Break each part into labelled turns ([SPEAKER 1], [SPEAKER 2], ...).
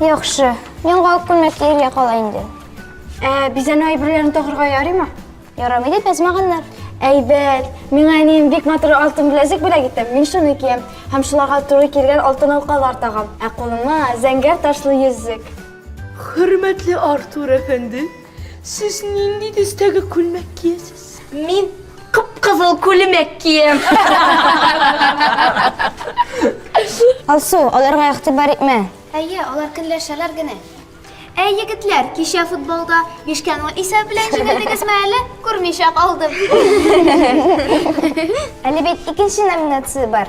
[SPEAKER 1] Яхшы. Мин галып күлмәк киергә кала инде. Ә бизәнү
[SPEAKER 2] әйберләрен тагырга ярыймы? Ярамый дип язмаганнар.
[SPEAKER 1] Әйбәт.
[SPEAKER 2] Миңа әнием бик матур алтын беләзек бүләк итте. Мин шуны киям. Һәм шуларга туры килгән алтын алкалар тагам. Ә кулыма зәңгәр ташлы йөзек. Хөрмәтле
[SPEAKER 3] Артур әфәнде, Сез нинди төстәге күлмәк киясез? Мин
[SPEAKER 2] кып-кызыл күлмәк киям.
[SPEAKER 1] Алсу, аларга игътибар итмә. Әйе, алар көнләшәләр генә. Әй, егетләр, кичә футболда 5-ке ноль исәп белән җиңелдегезме әле? Күрмичә калдым. Әле бит икенче номинация бар.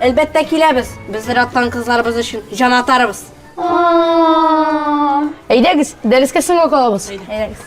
[SPEAKER 2] Әлбәттә
[SPEAKER 4] киләбез. Без зираттан кызларыбыз өчен җан атарыбыз. Әйдәгез,
[SPEAKER 2] дәрескә
[SPEAKER 4] соңга калабыз.
[SPEAKER 2] Әйдәгез.